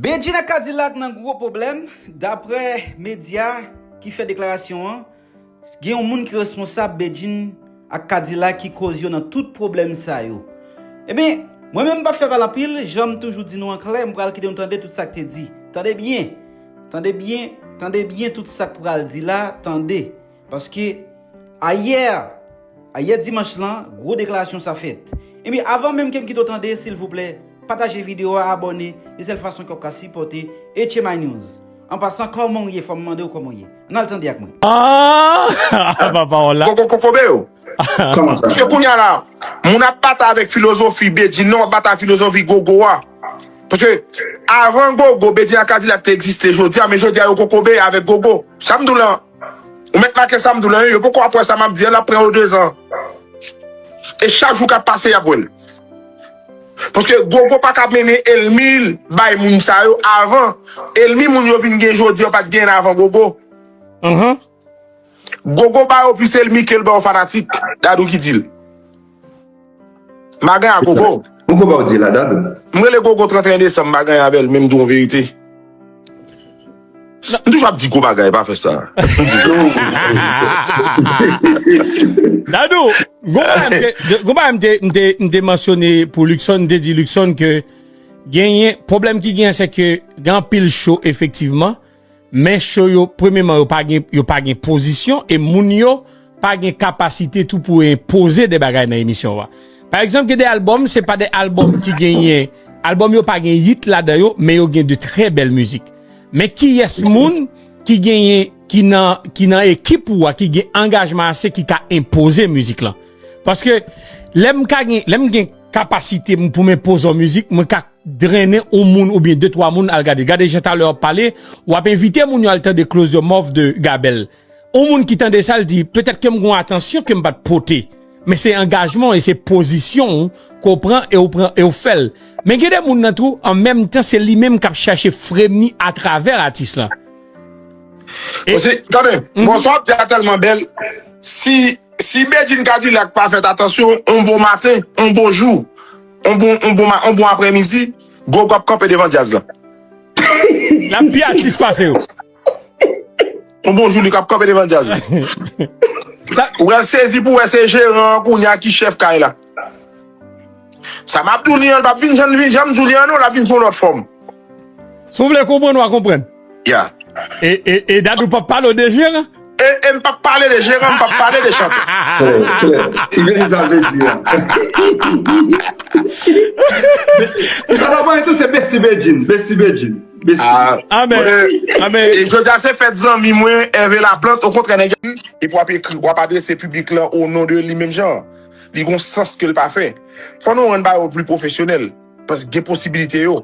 Bedjine Kadilak nan gwo pwoblèm, daprè medya ki fè deklarasyon an, gen yon moun ki responsab Bedjine ak Kadilak ki koz yo nan tout pwoblèm sa yo. Eben, mwen menm m pap fè pale anpil, jan m toujou di nou an klè, m pral kite nou tande tout sa k te di. Tande byen! Tande byen, tande byen tout sa k pral di la, tande! Paske ayè, ayè dimanch lan, gwo deklarasyon sa fèt. Ebyen avan menm ke m kite w tande, silvouplè, pataje video a, abòne, se sèl fason ke w ap ka sipòte HMInews. An pasan, kòman w ye? Fò m mande w kòman w ye. An n al tande ak mwen. Aah! Papa w la. Kokokokobe o! Paske kounya la, moun ap batay avèk filozofi Bedjine nan, w ap batay avèk filozofi Gogo a. Paske, avan Gogo, Bedjine ak Kadilak te egziste jodi a, men jodi a yo kokobe avèk Gogo. Sa m di w lan? Ou mèt make sa m di w la wi, yo poko ap wè sa m ap di a, l ap pran yo dezan. E chak jou k ap pase y ap wè l. Paske Gogo pa ka mennen elmi l bay moun sa yo avan. Elmi moun yo vin gen jodi yo pa t genyen avan Gogo. Gogo ba yo plis elmi ke l ba yo fanatik, Dadou ki di l. Magan a gogo. Bon koba ou di la dado. M rele gogo 31 desanm magan ya bèl menm di yon verite. M toujou ap di gwo bagay pa fè sa. Dadou, gwo bagay m te mansyone pou Luckson, m te di Luckson ke genyen, pwoblèm ki genyen se ke gen anpil show efektivman, Men show yo premyeman yo pa gen yo pa gen pozisyon e moun yo pa gen kapasite tou pou enpoze de bagay nan emisyon wa. Pa egzanp gen de album se pa de album ki genyen album yo pa gen hit ladan yo men yo gen de trè bèl mizik. Men kiyès moun ki genyen ki nan ki nan ekip ou wa ki gen angajman ase ki ka enpoze mizik lan. Paske lèm ka gen lèm gen kapasite m pou m enpoze w mizik mwen ka drennen on moun oubyen de twa moun al gade gade jan talè wap pale wap envite moun yo al tande close your mouth de Gabel on moun ki tande sa l di petèt kem gon atansyon kem pat pote men se angajman w e se pozisyon w ke w pran e w pran e w fèl men gen de moun nan tou an menm tan se li menm kap chache fremi atravè atis lan. Osi tande bon sa wap di a tèlman bèl si si Bedjine Cadillac pa fèt atansyon on bon maten on bon jou On bon on bon ma on bon aprè midi Gogo ap kanpe devan djaz la. Lap pi atis pase yo. On bon Joulik ap kanpe devan djaz la. Ou pral sezi pou wè se jeran an kounye a ki chèf kay la. Sa map di w li an li pap vin jan li vin janm di w li an non lap vin sou yon lòt fòm. Si w vle konprann wa konprann. Yeah. E Dadou pap pale w de jeran? E m pap pale de jeran, m pap pale de chantè. Klè, klè. Ti Vini sa vle di a. Sa ta pale tou se Besti Bedjine, Besti Bedjine. Besti. Ah men, ah men. Jodi a se fèt zanmi mwen Hervé Laplante, okontrè nèg la. Depi w ap ekri, w ap adrese piblik lan o non de li menm jan an. Li gen yon sans ke l pa fè. Fò nou rann bagay yo pli pwofesyonèl. Paske gen posibilite yo.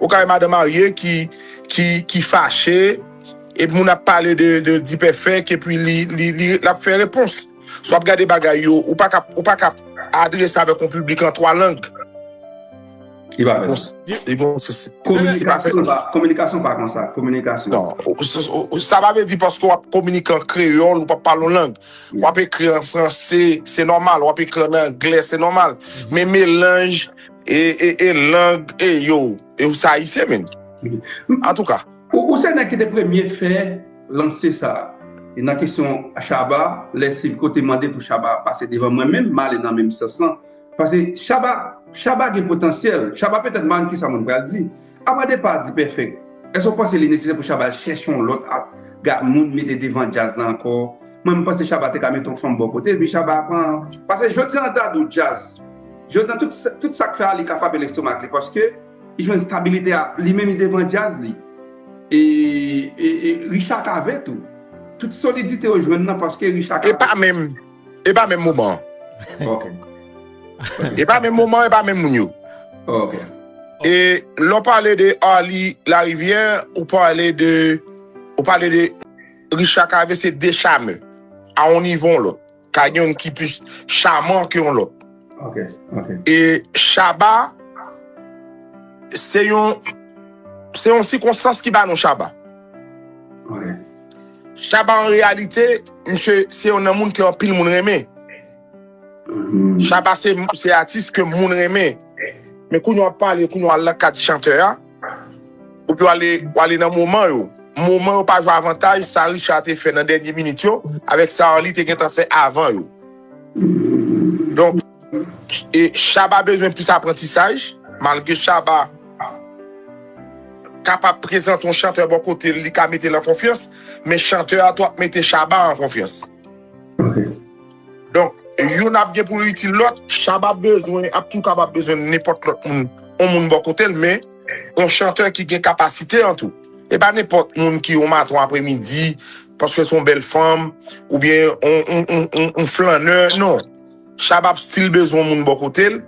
Ou ka wè madan marye ki ki fache epi moun ap pale de dipèfèk epi li lap fè repons si wap gade bagay yo ou pa ka adrese avèk yon piblik an 3 lang li pa menm li pa menm kominikasyon pa konsa kominikasyon sa pa vle di paske wap kominike an kreyòl ou pap pale yon lang wap ekri an franse se nòmal wap ekri an anglè se nòmal men melanj E e e lang e yo e ou se ayisyen menn antouka. Ou se nèg ki te premye fè lanse sa e nan kesyon Shabba lè Silk te mande pou Shabba pase devan mwen menm m ale nan menm sans lan pase Shabba Shabba gen potansyèl Shabba petèt m pa konn kisa moun pral di Apa depa D-Perfect, èske ou panse li nesesè pou Shabba chèche yon lòt ap ga moun mete devan djaz la ankò? Mwen m panse Shabba te ka mete yon fanm bò kote epi Shabba ap an pase jodi an ta dou djaz jodi an tout tout sak fè a li ka frape lestomak li paske li jwenn stabilite a li menm li devan djaz li e e e Richard Cavé tou tout solidite yo jwenn nan paske Richard Cavé. Epa menm E pa menm moman an. Ok. E pa menm moman, e pa menm moun yo. Ok. E lè w pale de Arly Larivière, ou pale de, ou pale de Richard Cavé se 2 charmeurs a yon nivo yon lòt. Ka gen youn ki plis charmant ke yon lòt. Ok, ok. E Shabba se yon, se yon sikonstans ki ba nou Shabba. Ok. Shabba an reyalite misye se yon nan moun ke anpil moun renmen. Shabba se atis ke moun renmen. Men kounye wap pale kounye wal nan kad chantè a. Ou pi wale wale nan moman yo. Moman yo pa jwe avantaj sa Richard te fè nan dènye minit yo avèk sa Arly te gentan fè avan yo. Donk. Shabba bezwen plis aprantisaj, malgre Shabba kapab prezante yon chantè bò kote l li ka mete l an konfyans, men chantè a tou ap mete Shabba an konfyans. Donk, youn ap gen pou l itil lòt. Shabba bezwen, ap tou kapab bezwen nenpòt lòt moun, yon moun bò kote l, men yon chantè ki gen kapasite an tou. E pa nenpòt moun ki yon maton apremidi, paske se yon bèl fanm, oubyen yon flannè, non. Shabba ap still bezwen moun bò kote l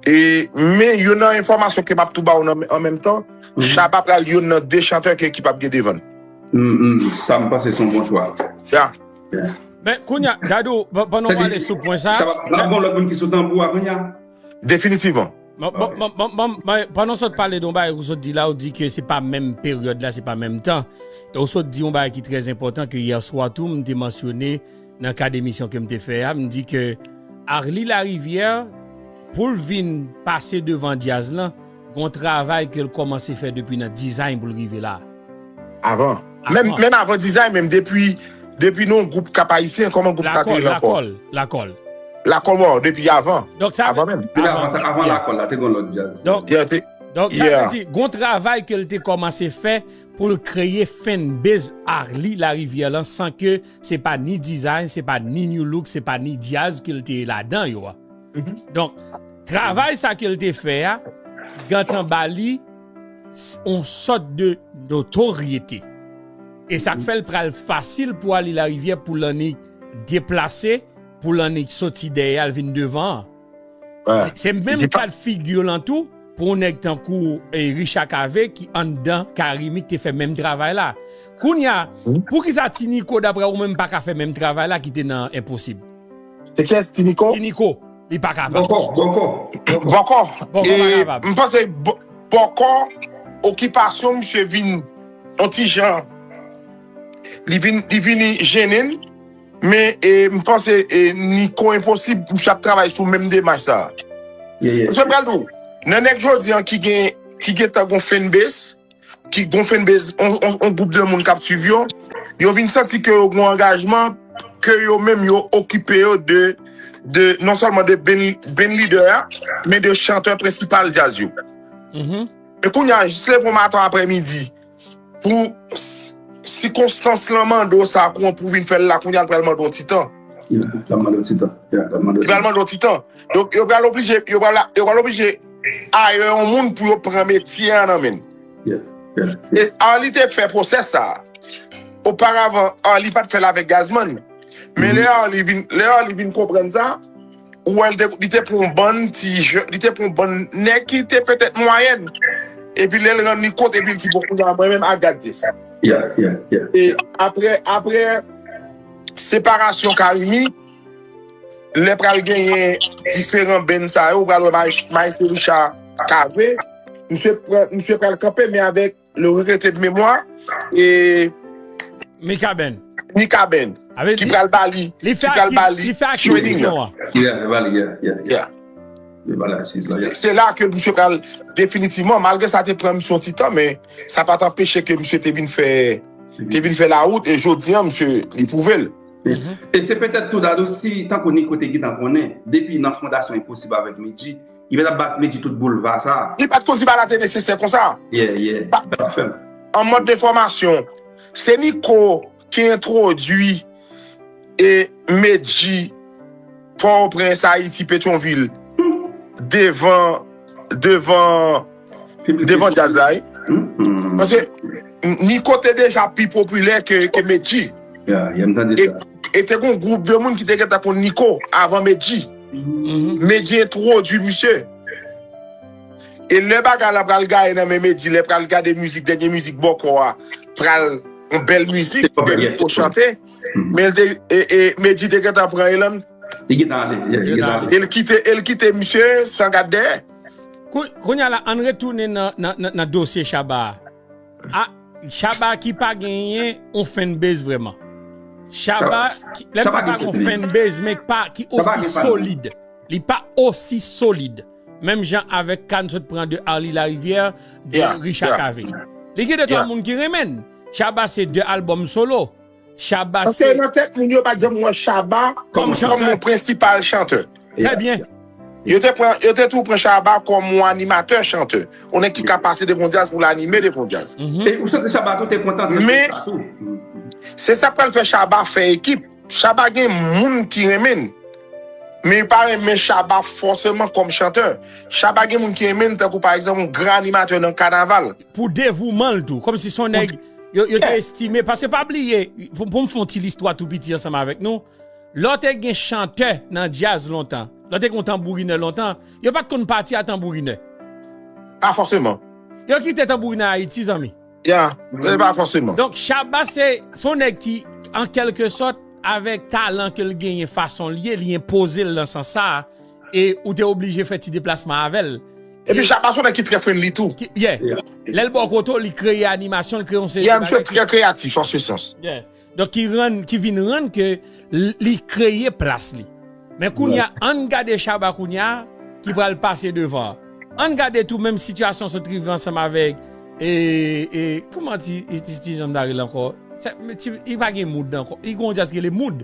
e men yo nan enfòmasyon ke map tou ba ou nan an menm tan Shabba pral yonn nan 2 chantè ke ekip ap gen devan l. Umm sam panse son bon chwa. Ya. Men kounya Dadou pandan w ale sou pwen sa. Shabba pral gon lòt moun ki sou tanbou a kounya. Definitivman. Banm pandan w sot pale de yon bagay ke w sot di la ou di ke se pa menm peryòd la se pa menm tan e w sot di yon bagay ki trè enpòtan ke yèswa tou m te mansyone Nan kad emisyon ke m te fè a, m di ke Arly Larivière pou l vin pase devan djaz lan, gon travay ke l kòmanse fè depi nan dizay pou l rive la. Avan. Menm, menm avan dizay menm, depi, depi nan yon gwoup kap ayisyen, kòman gwoup sa te rele ankò? Lakòl, Lakòl, Lakòl. Lakòl bon, depi avan. Donk sa vle. Avan menm. Depi avan sa, avan Lakòl la, te gon lòt djaz. Donk. Ya te. Donk sa vle di, gon travay ke l te kòmanse fè pou l kreye fanbase Arly Larivière lan san ke. Se pa ni design, se pa ni new look, se pa ni jazz ke l te ladan yo a. Donk, travay sa ke l te fè a, gentan ba li yon sòt de notoryete. E sa k fè l pral fasil pou Arly Larivière pou l annik deplase, pou l annik soti dèyè a, l vin devan an. Se menm ka de figure lan tou pou yon nèg tankou Richard Cavé ki anndan Carimi ki te fè menm travay la. Kounye a, poukisa Ti Nico daprè ou menm pa ka fè menm travay la ki te nan Enposib? Se kiyès Ti Nico? Ti Nico, li pa kapab. Bòkò, Bòkò. Bòkò? Bòkò pa kapab. M panse Bòkò, okipasyon misye vin yon ti jan, li vini jennen l, Men m panse Nico Enposib misye ap travay sou menm demach sa. Paske m pral di w, nan nèg jodi an ki gen ki gentan gon fanbase, ki gon fanbase on gwoup de moun kap swiv yo, yo vin santi ke yo gon angajman ke yo menm yo okipe yo de de non sèlman de bandleader a men de chantè prensipal djaz yo. Men kounya jis leve on matan aprè midi Pou sikonstans lan mande w sa kon pou vin fè l la kounya li pral mande w yon ti tan. Yeah, li pral mande w ti tan. Yeah, li pral mande w ti tan. Li pral mande w ti tan. Donk yo pral oblije, yo pral, yo pral oblije hire yon moun pou yo pran metye an nan men l. Yeah, yeah, yeah. E Arly te fè pwosè sa a. Oparavan Arly pat fè l avèk Gazzman. Men lè Arly vin, lè Arly vin konprann sa. Ou wè li te pran yon bann ti jèn, li te pran yon bann nèg ki te petèt mwayèn. Epi lè l rann li kont epi l di bon kounya mwen menm I got this. E aprè aprè separasyon Carimi lè pral genyen diferan band sa yo ou pral wè Maestro Richard kave misye pran misye pral kanpe men avèk Le regrette de memwa e Mikaben Mikaben ki pral ba li Li fè akizisyon an Yeah li ba li yeah Li ba li asiz la yeah Se la ke misye pral definitivman malgre sa te pran misye yon ti tan men sa pa t anpeche ke misye te vin fè te vin fè lawout e jodi an misye li pwouve l E se petèt tou Dadou si tankou Niko te gentan konnen depi nan fondasyon Enposib avèk Medjy Li met ap bat medi tout boulva sa. Li pat konn si bagay la te nesesè konsa. Yeah yeah Bat la fèm. An mòd de fòmasyon, se Nico ki entwodui e Medjy Port-au-Prince, Haiti, Petion-Ville devan devan. Devan jazz la wi. Paske Nico te deja pi popilè ke Medjy. Yeah, yeah, m tande sa. E te gon gwoup de moun ki te gentan konn Nico avan Medjy. Medjy entwodwi misye. E lè bagay la pral gaye nan men Medjy, lè pral gade mizik, dènye mizik Bòkò a, pral yon bèl mizik ke Nico chante, men Medjy te gentan pran elan l. Li gentan ale, yeah, li gentan ale. E l kite, e l kite misye san gad dèyè. Kounye a la ann retounen nan dosye Shabba a. Shabba ki pa genyen yon fanbase vrèman. Shabba ki pa gen yon fanbase men ki pa osi solid. Li pa osi solid. Menm jan avèk ka n sot pran de Arly Larivière, de Richard Cavé. Li gen de twa moun ki renmen l. Shabba se de albòm solo. Shabba se. Paske nan tèt moun yo pat janm wè Shabba kòm yon prensipal chantè. Trè byen. Yo te pran, yo te tou pran Shabba kòm yon animatè chantè. Yon nèg ki ka pase devan yon djaz pou l anime devan yon djaz. E ou santi Shabba tou te kontan tande sa tou. Men, se sa k pral fè Shabba fè ekip. Shabba gen moun ki renmen l. Men yo pa renmen Shabba fòseman kòm chantè. Shabba gen moun ki renmen l tankou pa egzanp yon gran animatè nan kanaval. Pou devouman l tou. Kòmsi s on nèg yo te estime. Paske pa bliye, pou m fè on ti listwa tou piti ansanm avèk nou, lè w te gen chantè nan djaz lontan, lè w te gen on tanbourinè lontan, yo pa t konn pati a tanbourinè. Pa fòseman. Yo kite tanbourinè Ayiti, zanmi. Ya, e pa fòseman. Donk Shabba se on nèg ki, an kèlke sòt, avèk talan ke l genyen, fason l ye, li enpoze l nan sans sa a. E ou te oblije fè ti deplasman avè l. Epi Shabba son nèg ki trè friendly tou. Yeah. Lè l ba w kote w, li kreye animasyon, li kreye yon seri de bagay. Yeah, misye trè kreyatif an se sans. Yeah. Donk ki rann, ki vin rann ke li kreye plas li. Men kounye a, ann gade Shabba kounye a ki pral pase devan an. Ann gade tou menm sitiyasyon sot rive ansanm avèk e, e, kouman ti, ti jan m ta rele l ankò? Sa, ti, li pa gen mood ankò. Li gen yon jazz ki rele Mood.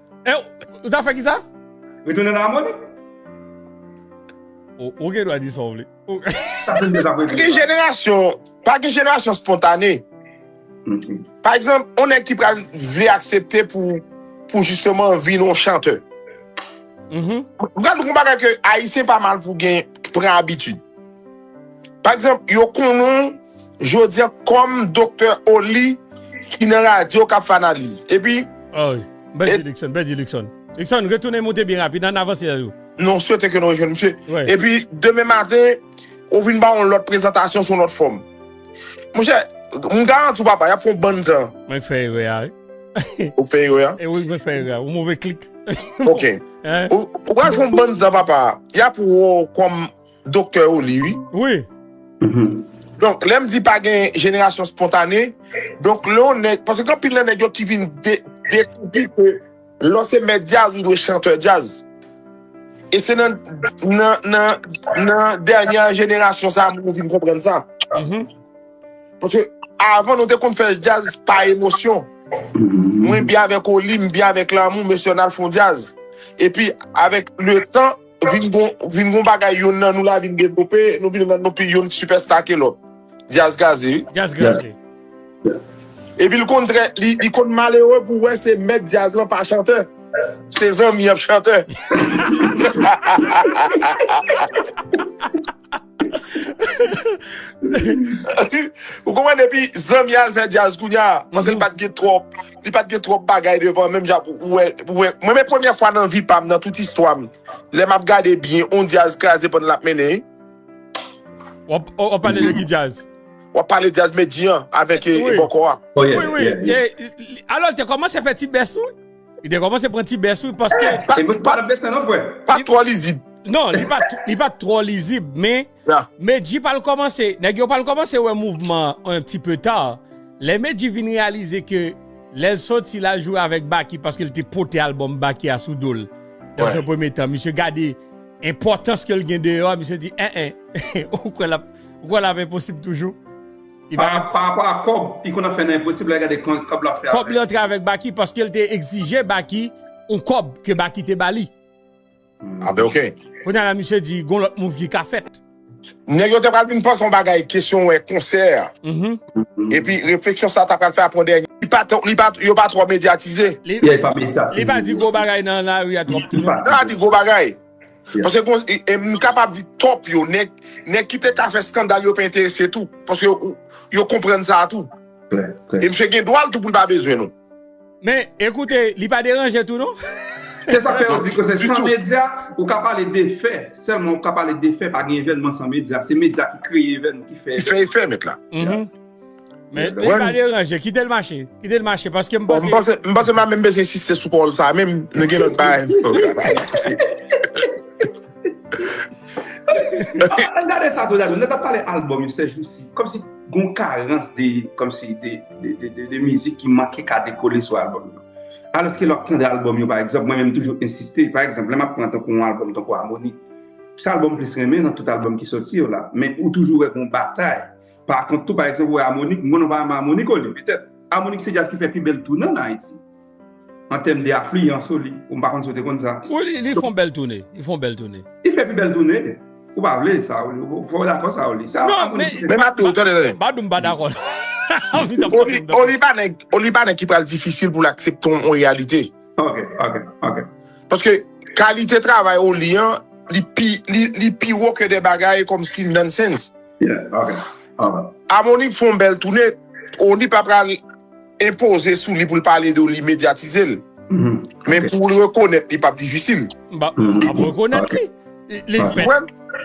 Eh, ou ta fè ki sa? Retounen nan Amonit. Ou, ou gen dwa di sa ou vle. Ou. Sa fè m deja prezidan. Gen jenerasyon, pa gen jenerasyon spontane. Pa egzanp, on nèg ki pral vle aksepte pou, pou jisteman vin on chantè. Ou pral wè gon bagay ke Ayisyen pa mal pou gen, pran abitid. Pa egzanp, yo konnen w jodi an kòm Doktè Oli ki nan radyo k ap fè analiz. Epi. O wi. Bèl di Luckson, bèl di Luckson. Luckson, retounen moute byen rapid, ann avanse a jou. Nou swete ke nou rejwenn misye. Epi, demen maten, ou vin ba yon lòt prezantasyon sou yon lòt fòm. Monchè, m garanti w papa, y ap fè yon bann tan. Mwen k fè erè a wi. Ou k fè erè a? E wi, mwen k fè erè a. Yon move klik. Ok. Ou pral fè yon bann tan papa, y ap wè w kòm. Doktè ou li wi. Wi. Donk lèm di pa gen jenerasyon spontane, donk lè yon nèg, paske gen anpil nan nèg yo ki vin dekouvri ke lè w se mèt djaz ou dwe chantè djaz. E se nan nan dènyè jenerasyon sa moun yo vin konprann sa. Paske avan nou te konn fè djaz pa emosyon. Mwen byen avèk ou li, m byen avèk lanmou, mesye an al fon djaz. Epi avèk le tan. Vin gon vin gon bagay yonn nan nou la vin devlope, nou vin rann nou pi yonn sipèsta ke lòt. Dyaz Gaze wi. Dyaz Gaze. Epi l konn trè li konn malere pou wè se mèt dyaz lan pa chantè. Se zanmi an p chantè. Ou konprann depi zanmi al fè djaz kounya manzèl pat gen twòp li pat gen twòp bagay devan menm jan ou wè mwen men premyè fwa nan vi pam nan tout istwa m lè map gade byen on djaz kraze pandan lap mennen Wap pale de ki djaz? Wap pale de djaz Medjy an avèk e bòkò a Wi wi alò l te kòmanse fè ti bès tou Li te komanse pran ti bès wi paske. E bòs pa tap desann non frè. Pa twò lizib. Non li pat twò lizib men Medji pral komanse nèg yo pral komanse wè mouvman an ti peu ta. Lè Medji vin reyalize ke lèl soti lal jwe avèk Baky paske li te pote album Baky a sou dol dans un premier temps misye gade enpòtans kel gen deyò a misye di en en ou kwè lap enposib toujou. Pa rapò a kòb, li konn ap fè nan enposib la gade kòb lap fè avèl. Kòb li antre avèk Baky paskel te egzije Baky yon kòb ke Baky te bali. Ah ben ok. Kounya la misye di gon lòt move li ka fèt. Nèg yo te pral vin panse yon bagay kesyon wè konsè epi refleksyon sa ta pral fè aprè yon dènye li pa yo pa twò medyatize. Li pa di gwo bagay nan lari a twòp tou non. Li pa di gwo bagay. Paske gon e m kapab di top yo nèg nèg ki te ka fè skandal yo pa enterese tou paske yo yo konprann sa a tou e misye gen dwa l tou pou l pa bezwen nou. Men ekoute li pa deranje tou non. Se sak fè yo di ke se san medya ou ka pale de fè selman ou ka pale de fè pa gen evènman san medya se medya ki kreye evènman ki fè evènman. Ki fè efè met la. Men sa li ranje, kite l mache, kite l mache, paske m panse... M panse m pa menm bezwen insiste sou pawòl sa a menm, nou gen lòt bagay pou nou pale. An gade sa tou la, nou ta pale albòm yo se jousi, kòmsi gon karans de, kòmsi de, de mizik ki manke ka dekole sou albòm yo. Alòske lè w ap tande albòm yo, pa egzanp, mwen menm toujou ensiste, pa egzanp, lè m ap pran tankou yon albòm tankou Amoni, se albòm m plis renmen nan tout albòm ki soti yo la, men ou toujou wè gon batay. Pa kont tou, pa egzanp, ou wè Amonik, m konnen ou pa renmen Amonik o li, petèt. Amonik se djaz ki fè pi bèl toune ann Ayiti, an tèm de afliyans o li. M pa konn si ou te konn sa. Wi, li, li fè yon bèl toune. Li fè yon bèl toune. Li fè pi bèl toune. Ou pa vle sa o li. Ou pa dakò sa o li. Se Amonik ki fè. Men m ap di ou, tande, tande. M pa di w m pa dakò l. O li, o li pa nèg, o li pa nèg ki pral difisil pou l aksepte yon reyalite. Ok, ok, ok. Paske kalite travay o li an, li pi, li, li pi wo ke de bagay kòmsi nonsense. Yeah ok alright. Amoni fon bèl toune, oni pa pral enpoze sou li poul pale de w li medyatize l men pou l rekonèt li pap difisil. Mpa map rekonèt li. Li fèt li fèt li la.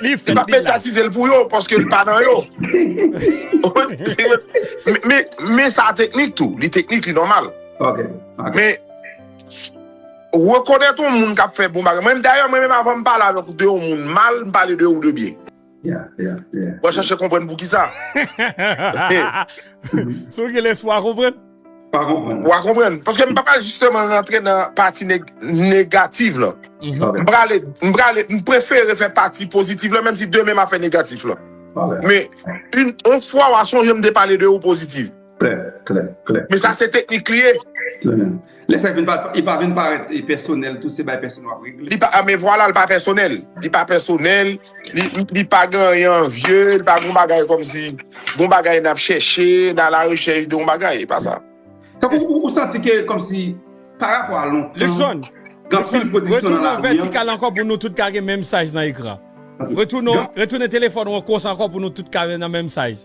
Li pap medyatize l pou yo paske li pa nan yo. Men sa teknik tou, li teknik li nòmal. Ok ok. Men rekonèt yon moun kap fè bon bagay, mwen menm dayè mwen menm avan m pale avèk w de yon moun mal m pale de ou de byen. Wap chache konprann poukisa? Si w gen lespwa w konprann? Wa konprann. Paske m pa pral jisteman rantre nan pati negatif lan. M prale, m prale, m prefere fè pati pozitif lan menm si demen m ap fè negatif lan. Men, yon fwa wa sonje m te pale de ou pozitif. Klè, klè, klè. Men sa se teknik li ye. Trè byen. Lè sa e pa vin parèt pèsonèl tou se bay pèson wap regle. Li pa a men vwala li pa pèsonèl. Li pa pèsonèl, li pa gen anyen anvye, li pa gen yon bagay kòmsi yon bagay nap chèche, nan ala rechèch de yon bagay, e pa sa. Tankou ou santi ke kòmsi pa rapò a lontan. Luckson, Luckson, retounen vètikal ankò pou nou tout ka gen menm size nan ekran. Retounen, retounen telefòn ou an konsa ankò pou nou tout ka nan menm size.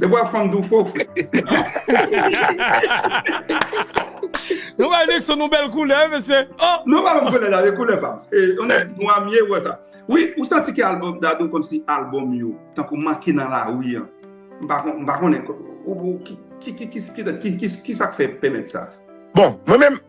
Se pou a fanm di w fo fre. Nou bay Nixon yon bèl koulè wi mesye. Non pa menm koulè sa se koulè pam. On nèg nwa m ye wè sa. Wi ou santi ke album Dadou kòmsi album yo tankou manke nan lari an. M pa konnen. Ki sa k fè pèmèt sa? Bon mwen menm.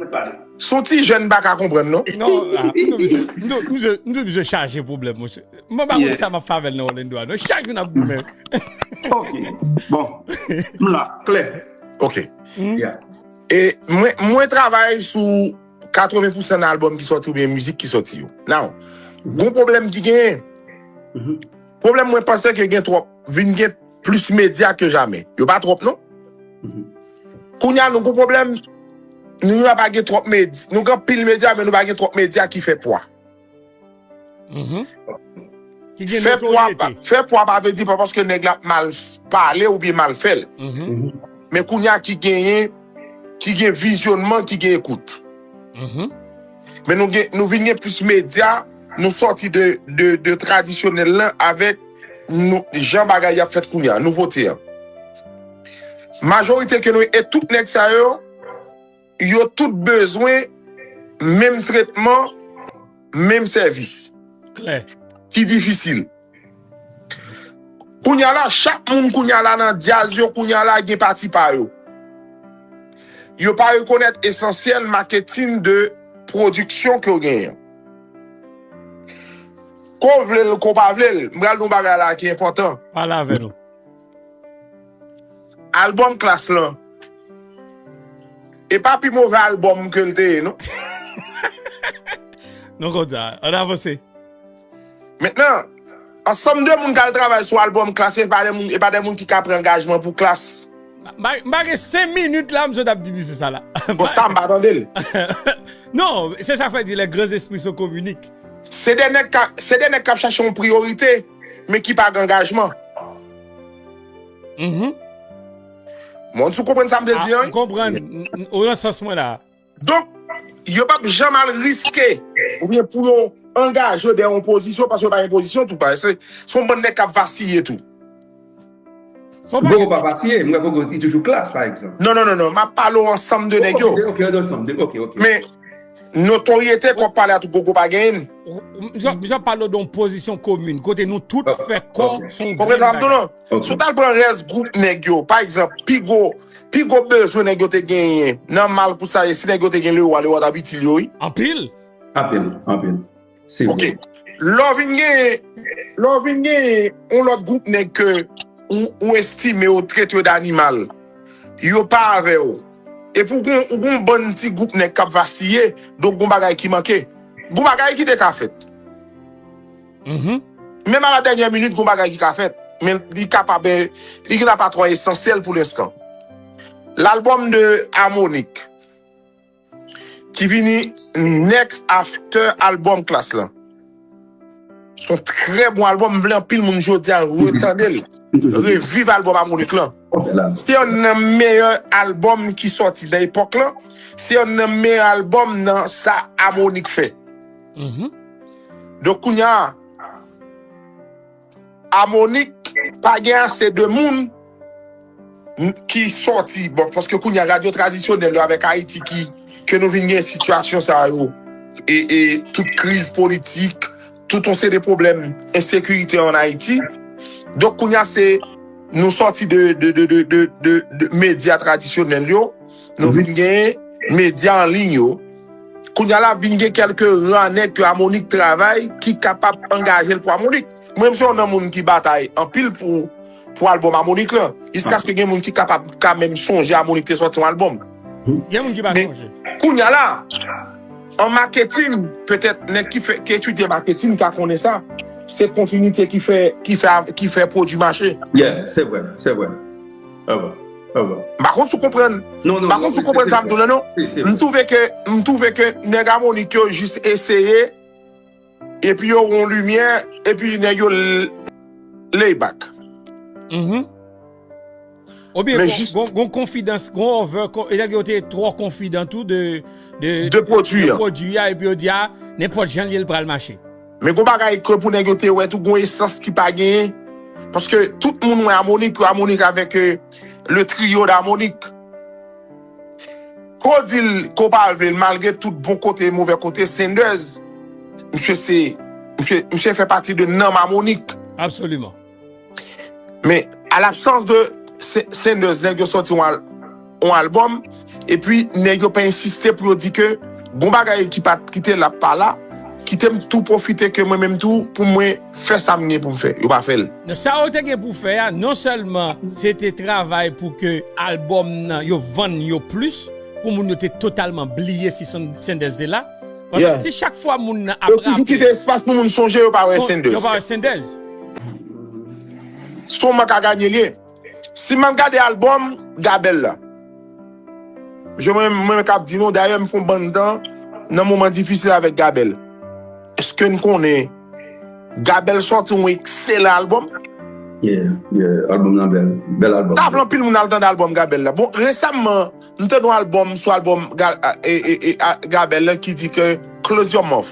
Mwen pale. Son ti jèn m paka konprann non. Non la m tou bzwen m tou bzwen m tou bzwen chaje pwoblèm monchè mwen pa konn sa map fè avèl nan Orlando a non chak jou nap goumen. Ok bon m la klè. Ok e mwen mwen travay sou 80 pousan nan album ki sòti oubyen mizik ki sòti yo now gon pwoblèm ki genyen pwoblèm mwen panse ke gen twòp vin gen plis medya ke jamè yo pa twòp non. Kounya nou gon pwoblèm nou la pa gen twòp med nou gen anpil medya men nou pa gen twòp medya ki fè pwa. Ki gen notoryete. Fè pwa pa vle di pa paske nèg la ap mal pale oubyen mal fè l. Men kounya ki genyen ki gen vizyonman ki gen ekout. Men nou gen, nou vin gen plis medya, nou sòti de, de, de tradisyonèl lan avèk nou, jan bagay y ap fèt kounye a, nouvote an. Majorite ke nou, e tout nèg sa yo, yo tout bezwen menm tretman, menm sèvis. Klè. Ki difisil. Kounya la chak moun kounya la nan dyaz yo kounya la gen pati pa yo. Yo pa rekonèt esansyèl maketin de pwodiksyon ke yo genyen an. Ko vle l ko pa vle l, m pral di yon bagay la ki enpòtan. Pale avè nou. Albòm Klass lan, e pa pi move albòm ke l te ye non. Non konn sa, ann avanse. Mentnan, ansanm de moun k al travay sou albòm Klass yo e pa de moun ki ka pran angajman pou Klass. M pa gen 5 minit la m sot ap di misye sa la. Bon sa m pa tande l. Non, se sa fè di les grands esprits sont communiques. Se de nèg ka, se de nèg k ap chache yon priyorite men ki pa gen angajman. Mhum. Mwen w si w konprann sa m te di an wi. M konprann. Ou nan sans mwen la. Donk, yo pap janm al riske oubyen pou yo angaje yo dèyè yon pozisyon paske yo pa gen pozisyon tou paske se yon bann nèg k ap vasiye tou. Gogo pa vasiye, m wè Gogo li toujou klass pa egzanp. Non non non non, m ap pale w ansanm de nèg yo. Ok, de ansanm de, ok ok. Men, notoryete ke w ap pale a tou Gogo pa genyen. M ap pale w de yon pozisyon komin kote nou tout fè kò se yon grenn bagay. Si w t al pran rès gwoup nèg yo, pa egzanp, pi gwo pi gwo bezwen nèg yo te genyen nan mal kou sa ye si nèg yo te gen Lewa, Lewa t ap itil yo wi. Anpil. Anpil, anpil. Se vre. Ok. Lè w vin genyen lè w vin genyen yon lòt gwoup nèg ke ou estime yo trete yo danimal, yo pa avè w epi ou gen ou gen yon bann ti gwoup nèg k ap vasiye donk gen yon bagay ki manke. Gen yon bagay ki te ka fèt. Menm a la dènyè minit gon bagay ki ka fèt, men li ka pa ben, li gen apa twò esansyèl pou lenstan. Lalbòm de Harmonik ki vini next after album Klass lan, son trè bon albòm, m vle anpil moun jodi a retande l, reviv albòm Harmonik lan. Se yonn nan meyè albòm ki sòti nan epòk lan, se yonn nan meyè albòm nan sa Harmonik fè. Donk kounya Amonik pa gen ase de moun ki sòti bon paske kounya radyo tradisyonèl yo avèk Ayiti ki ke nou vin gen sitiyasyon sa yo e tout kriz politik tout yon seri de pwoblèm ensekirite an Ayiti donk kounya se nou sòti de medya tradisyonèl yo nou vin gen medya anliy yo. Kounye a la vin gen kèlke ra nèg ke Amonik travay ki kapab angaje l pou Amonik. Mwen menm se yon nan moun ki batay anpil pou albòm Amonik lan. Jiskaske gen moun ki kapab ka menm sonje Amonik te sòti yon albòm. Gen moun ki pa sonje. Men, kounye a la, an maketin, petèt nèg ki fè, ki etidye maketin ka konnen sa, se kontinite ki fè, ki fè, ki fè pwodui mache. Yeah, se vre, se vre. M pa konn si w konprann. M pa konn si w konprann sa m di w lan non. M twouve ke, m twouve ke nèg Amonik yo jis eseye epi yo wè yon limyè epi nèg yo lay back. Oubyen gen yon konfidans, gen yon over, nèg yo te twò konfidan tou de pwodui an epi yo di a nenpòt jan l ye l pral mache. Men gon bagay ke pou nèg yo te wè tou gon esans ki pa genyen paske tout moun wè amonik yo amonik avèk le trio d'amonik ko dil ko pa vlel malgre tout bon kote e movè kote sendèz misye se misye fè pati de nanm amonik. Absoliman. Men, a l'absence de Sanders, nèg yo sòti yon albòm, epi nèg yo pa ensiste pou yo di ke gon bagay ki pa t', ki te la pa la, kite m' tou pwofite ke mwen menm tou pou mwen fè sa m' gen pou m' fè. Yo pa fè l'. Nan sa yo te gen pou fè a, non sèlman se te travay pou ke albòm nan yo vann yo plis, pou moun yo te totalman bliye si Sanders te la, Paske si chak fwa moun nan ap raple. Yo toujou kite espas pou moun sonje yo pa wè Senders. Yo pa wè Senders. Se yon mank a ganye li ye. Si m al gade albòm Gabel la. Je mwen menm kap di nou dayè m fon bann tan nan moman difisil avèk Gabel. Eske n konnen Gabel sòti yon ekselan albòm? Yeah, yeah, albòm nan bèl. Bèl albòm. Tavle anpil moun al tande albòm Gabel la. Bon resamman. M tande yon album sou album Gabel lan ki di ke close your mouth.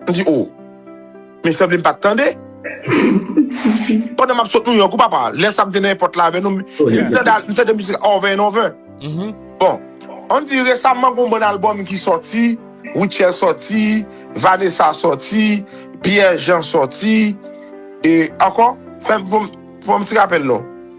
M di oh. Men sanble m pat tande. Pandan map sot New York wi papa. Lè sa m te nan èpòt la avè nou. Epi m tande m tande mizik la over and over. Bon. An di resamman gon bann album ki sòti, Rutshelle sòti, Vanessa sòti, Pierre Jean sòti. E ankò, fè m fon m ti rapèl non.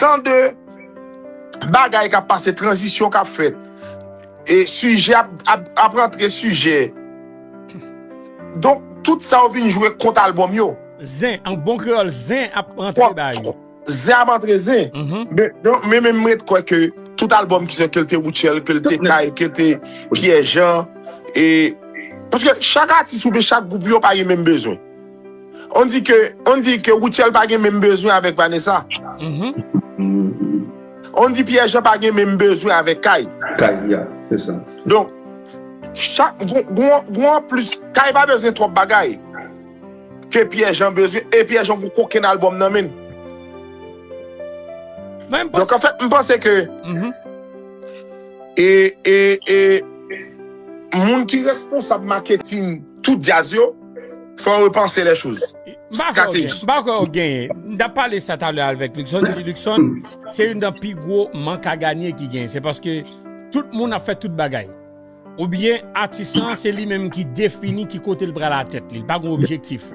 Tan de bagay kap pase, tranzisyon kap fèt, e sijè ap rantre sijè. Donk tout sa yo vin jwe kont albòm yo. Zen, an bon kreyòl, zen ap rantre ba yo. Zen ap rantre zen. Men menm m ret kwè ke tout albòm ki sòt, ke l te Rutshelle, ke l te Kay, ke l te Pierre Jean, e paske chak atis oubyen chak gwoup yo pa gen menm bezwen. On di ke on di ke Rutshelle pa gen menm bezwen avèk Vanessa. On di Pierre Jean pa gen menm bezwen avèk Kay. Kay ya, se sa. Donk, chak g'on anplis, Kay pa bezwen twòp bagay ke Pierre Jean bezwen e Pierre Jean g'on kokenn albòm nan menn. Donk anfèt m panse ke e e e moun ki responsab maketin. Tout djaz yo fò repanse lè choz. M pa kwè ou genyen. M tap pale sa talè avèk Luckson, m di Luckson se youn nan pi gwo mank a ganye ki genyen. Se paske tout moun ap fè tout bagay. Ou byen atis lan se li menm ki defini ki kote l pral a tèt li. Li pa gon objektif.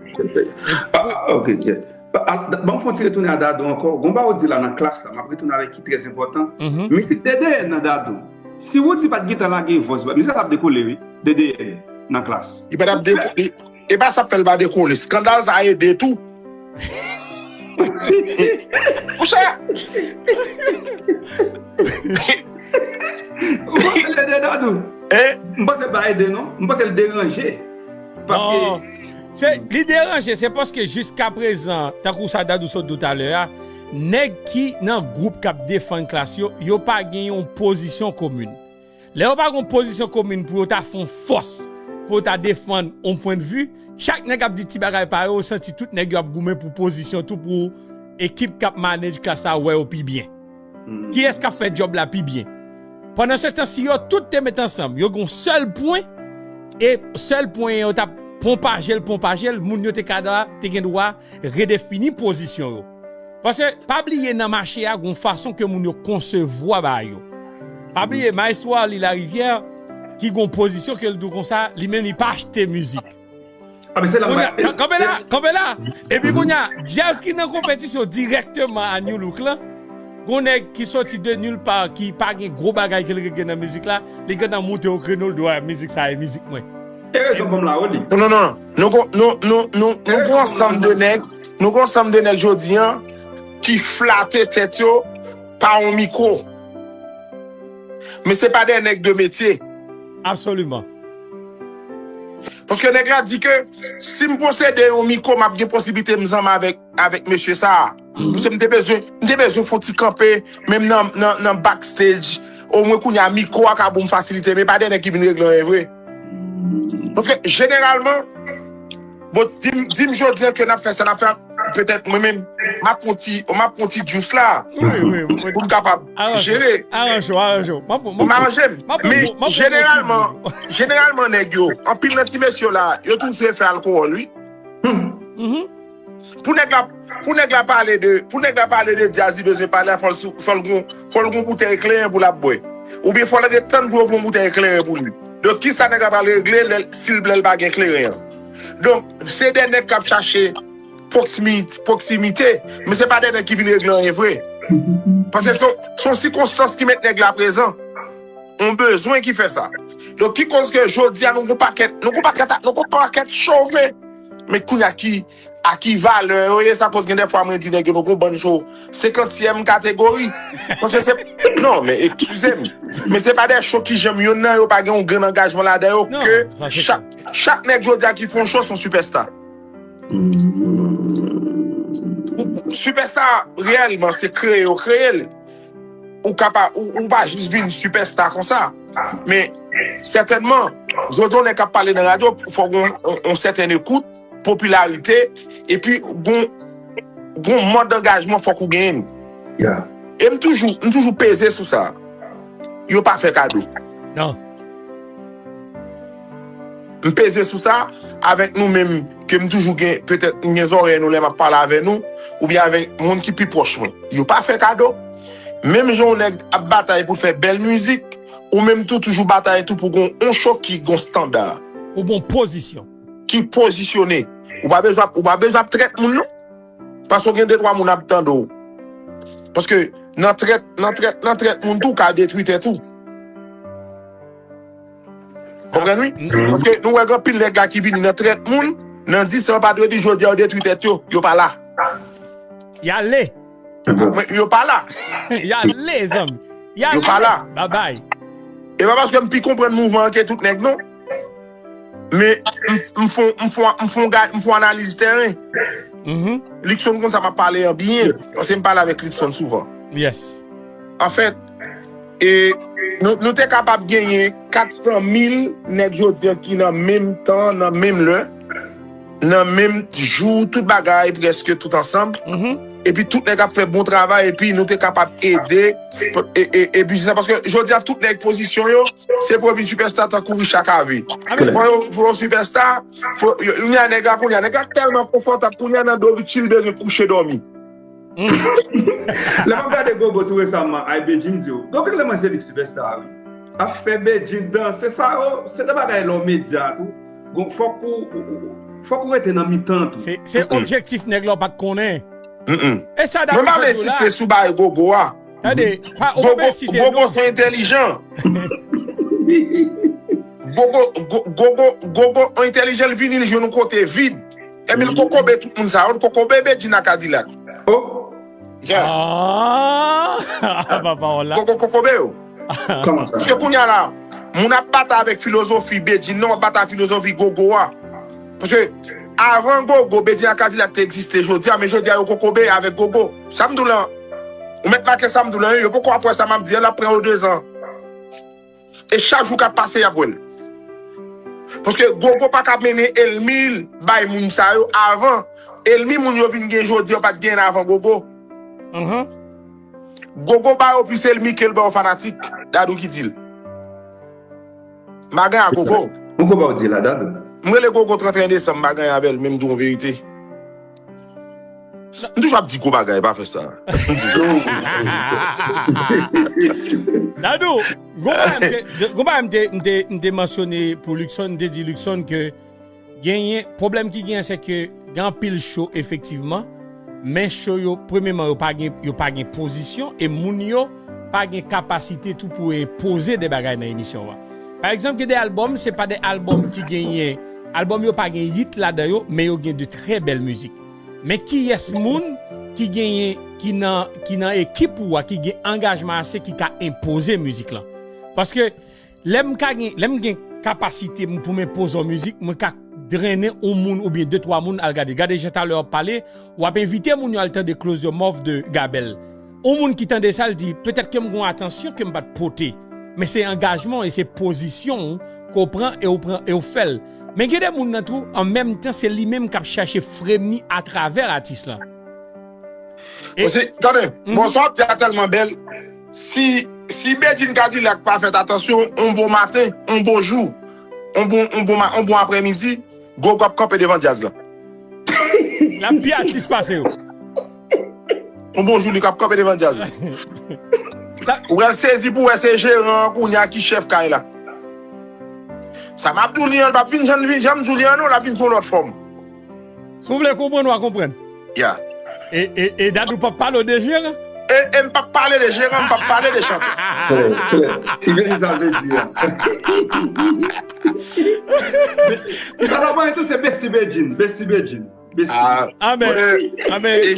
Ok kèt. Banm fon ti retounen a Dadou ankò. Gon bagay ou di la nan klas la, map retounen avèk ki trè enpòtan. Mizik Dèdèyè nan Dadou. Si Roody pat gentan lage vòs, mizik la tap dekole wi. DDN nan klas. Li pa tap deko li e pa sap fèl pa dekole skandal sa ede tou pou sa. Ou panse l ede dadou? M panse l pa ede non, m panse l deranje paske. Li deranje se paske jiskaprezan tankou sa dadou sot di w talè a nèg ki nan gwoup kap defann klas yo yo pa gen yon pozisyon komin. Lè yo pa gon pozisyon komin pou yo ta fon fòs pou yo ta defann on pwen de vu, chak nèg ap di ti bagay pa yo, ou santi tout nèg yo ap goumen pou pozisyon tou pou ekip k ap manage klas la wè yo pi byen. Kiyès k ap fè djòb la pi byen? Pandan se tan si yo tout te met ansanm yo gon sèl pwen e sèl pwen an yo t ap ponpaje l ponpaje l moun yo te ka dwa te gen dwa redefini pozisyon yo. Paske pa bliye nan mache a gon fason ke moun yo konsevwa bagay yo. Pa bliye maestro Arly Lariviere ki gon pozisyon ke li tou konsa, li menm li pa achte mizik. Kanpe la, kanpe la! Epi kounye a, djaz ki nan konpetisyon dirèkteman a Nu Look lan, gon nèg ki soti de nul part ki pa gen gwo bagay ke li regle nan mizik la, li gentan moute o kreno li di wè mizik sa e mizik mwen. E rezon pou m la ou li. Non, non, non, nou gon ansanm de nèg. Nou gon sanm de nèg jodi an ki flate tèt yo pa yon mikro. Men se pa de nèg de metye. Absoliman. Paske nèg la di ke sim posede yon mikro map gen posiblite m zanmi avèk avèk mesye sa a. Paske m te bezwen m te bezwen fon ti kanpe menm nan nan nan back stage omwen kounya mikro a ka bon fasilite men pa de nèg ki vin regle anyen vre. Paske jeneralman, bon dim jodi an ke nap fè sa nap fè, petèt mwen menm map pran yon ti djous la pou m kapab jere. Aranje w, aranje w. Pou m aranje m. Men jeneralman, jeneralman nèg yo, anpil nan ti mesye yo la, yo toujou fè alkowòl wi. Pou nèg la pou nèg la pale de pou nèg la pale de dyaz li bezwen pale a fòl sou fòl gon fòl gon boutèy kleren pou lap bwè oubyen fòl ret tann pou yo fon boutèy kleren pou li donk kisa nèg la pral regle lèl sil lèl pa gen kleren an donk se 2 nèg kap chache pwoksimi pwoksimite men se pa 2 nèg ki vin regle anyen vre pase son son sikonstans ki met nèg la prezan on bezwen ki fè sa donk ki koz ke jodia nou gon pakèt nou gon pakèt nou gon pakèt chove. Men kounya ki a ki valè yo ye sa koz gen de fwa mwen di nèg yo nou gon bann cho senkantyèm kategori paske se non men eksizem men se pa de cho ki janm yonn nan yo pa gen yon grenn angajman ladan yo ke chak chak nèg jodia ki fon cho son sipèsta sipèsta reyèlman se kreye yo kreyel. ou ka pa, ou pa jis vin sipèsta konsa. Men, sètènman, jodi yon nèg ka pale nan radyo, fò gen yon sèten ekout, popilarite, epi gen yon mòd angajman fòk ou genyen. E m toujou, m toujou peze sou sa. Yo pa fè kado. Non. M peze sou sa avèk nou menm ke m toujou gen petèt m gen zòrèy nou lè m ap pale avè nou oubyen avèk moun ki pi pwòch mwen. Yo pa fè kado. Menm jan yon nèg ap batay pou l fè bèl mizik, ou menm tou toujou batay tou pou gen yon show ki gen yon standard. Ou gen yon pozisyon. Ki pozisyone. Ou pa bezwen ap, ou pa bezwen ap trèt moun non. Paske ou gen de twa moun ap tande w. Paske nan trèt, nan trèt, nan trèt moun tou ou ka detwi tèt ou. Konprann wi. Paske nou wè gen anpil nèg la ki vini nan trèt moun, nan di sa yo pa dwe di jodi a yo detwi tèt yo, yo pa la. Y ale. Mwen yo pa la. Y ale zanmi. Y ale. Yo pa la. Babay. E pa paske m pi konprann mouvman an ke tout nèg non. Men m fon m fon m fon gad m fon analiz tèren. Luckson konn sa m ap pale an byen. Paske m pale avèk Luckson souvan. Yes. Anfèt. E nou te kapab genyen 400 mil nèg jodi ki nan menm tan, nan menm lè, nan menm jou, tout bagay prèske tout ansanm. Epi tout nèg ap fè bon travay epi nou te kapab ede e pi se sa paske jodi a tout nèg pozisyon yo se pou yo vin sipèsta tankou Richard Cavé. Fò yo fò yo sipèsta, fò yo, kounya nèg la kounya nèg la tèlman konfòtab kounya nan do Richie li bezwen kouche dòmi. Lè map gade gogo tou resaman ay Bedjine diw gogo lè mwen se li sipèsta wi ap fè Bedjine danse sa yo se de bagay lè w medya tou gon fòk ou fòk ou rete nan mitan tou se objektif nèg la w pat konnen esa dam nan fè djou la sou bagay gogo a tande pa ou pa bèy site non gogo se entèlijan gogo gogo gogo entèlijan l vini l jwenn yon kote vid. Emil kokobe tout moun sa yo kokobe bedjina kadilak oh aah ba pawòl la koko kokobe yo paske kounya la moun ap batay avèk filozofi bedjine nan wap batay avèk filozofi gogo a paske avan gogo bedjina kadilak te egziste jodi a men jodi a yo kokobe avèk gogo sam di w lan ou mèt make sam di w lan wi yo poko ap wè sa map di an lap pran yo dezan. E chak jou kap pase yap wèl. Paske gogo paka mennen elmil bay moun sa yo avan elmi moun yo vin gen jodi yo pat genyen avan gogo gogo ba yo plis elmi kel ba yo fanatik dadou ki dil mpa gen a gogo. Gogo baw dil a dadou. M rele gogo 31 desanm m pa gen avèl menm di w yon verite. M toujou ap di gwo bagay pa fè sa. Dadou, gwo bagay m te mansyone pou Luckson, m te di Luckson ke genyen, pwoblèm ki genyen se ke gen anpil show efektivman, men show yo premyeman yo pa gen pozisyon e moun yo pa gen kapasite tou pou enpoze de bagay nan emisyon w a. Pa egzanp gen de albòm se pa de albòm ki genyen, albòm yo pa gen yit ladan yo men yo gen de trè bèl mizik. Men kiyès moun ki genyen ki nan ki nan ekip ou a ki gen angajman ase ki ka enpoze mizik lan. Paske Lè m ka gen, lè m gen kapasite m pou m enpoze w mizik, mwen ka drennen on moun oubyen de twa moun al gade. Gade jan talè wap pale, wap envite moun yo al tande Close Your Mouth de Gabel. On moun ki tande sa l di, petèt ke m gen on atansyon ke m pat pote. Men se angajman w e se pozisyon w ke w pran e w pran e w fè l. Men gen de moun nan tou, an menm tan se li menm kap chache frame ni atravè atis lan. Bon se, tande, bon sa wap di a tèlman bèl. Si Bedjine Cadillac pa fèt atansyon, on bon maten, on bon jou, on bon aprè midi, Gogo ap kanpe devan djaz la. L ap pi atis pase yo. On bon jou li ap kanpe devan djaz la. Ou pral sezi pou wè se jeran an kounye a ki chèf kay la. Sa m ap di w li an, l pap vin jan m di w li an non, l ap vin sou yon lòt fòm. Si w vle konprann wa konprann. Yeah. E Dadou pap pale w de jeran? E m pap pale de jeran, m pap pale de chantè. Klè, klè. Si gen sa l vle di a. Sa l ap pale tou se Bessy Bedjine, Bessy Bedjine. Amen.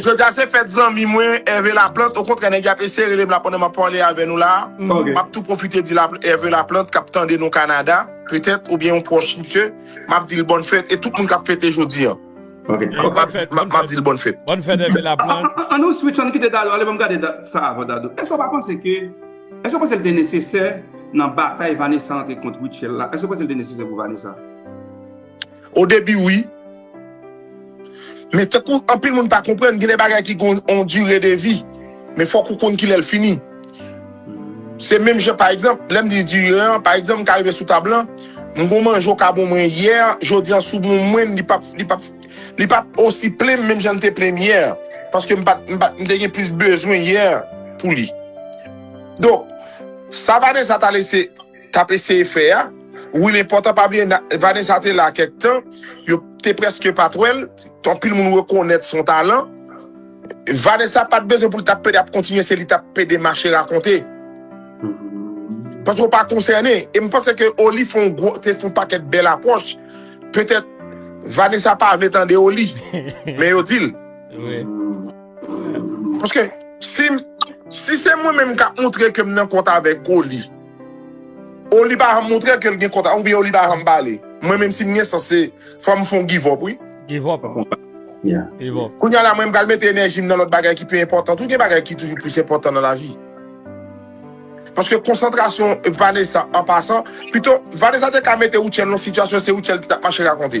Jodi a se fèt zanmi mwen Hervé Laplante, okontrè nèg yo ap eseye rele m la pandan m ap pale avè nou la. M ap tou pwofite di Hervé Laplante k ap tande nou Canada, petèt, oubyen yon pwòch misye. map dil bòn fèt e tout moun kap fete jodi an map dil bòn fèt. Bòn fèt epi la pran. An nou switch an nou kite Dadou ale banm gade sa avan Dadou èske ou pa panse ke èske ou panse li te nesesè nan batay Vanessa antre kont Rutshelle la èske ou panse li te nesesè pou Vanessa? Odebi wi. Men tankou anpil moun pa konprann, gen de bagay ki gen yon dire de vi. Men fòk ou konn kilè l fini. Se menm jan pa egzanp, lè m di dire an, pa egzanp m ka rive sou tab lan, m gon manje ou ka bon mwen yè, jodi an sou bon mwen, li pap, li pap, li pap osi plen m menm jan l te plen m yè. Paske m pat, m pat, m te gen plis bezwen yè pou li. Donk, sa Vanessa ta lese. tap eseye fè a wi men pòtan pa bliye Vanessa te la kèk tan yo te prèske pat wèl anpil moun rekonèt son talan Vanessa pat bezwen poul tap pede ap kontinye se li tap pede mache rakonte paske ou pa konsène em panse ke Oli fon gwo te fon pakèt bèl apwòch petèt Vanessa pa vle tande Oli men yo dil paske si se mwen menm kap montre kem nan kont avèk Oli. O li pa janm moutre kel gen kont a ou byen o li pa janm pale. Mwen menm sim gen sans se fòm fon give up wi. Give up Give up. Kounya la mwen mpral mete enèjim nan lòt bagay ki pi enpòtan tou gen bagay ki toujou plis enpòtan nan lavi paske konsantrasyon Vanessa an pasan pito Vanessa te ka mete Rutshelle nan sitiyasyon se Rutshelle ki tap mache rakonte.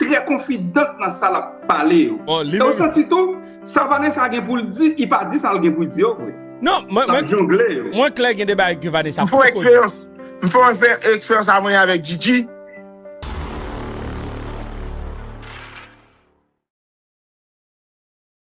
Trè konfidant nan sa lap pale yo. E ou santi tou, sa Vanessa gen poul di, li pa di sa l gen pou l di yo vre. Non, mwen klè gen de bagay ke Vanessa poko di. M fè eksperyans, m fè yon eksperyans a mwen avèk Djidji.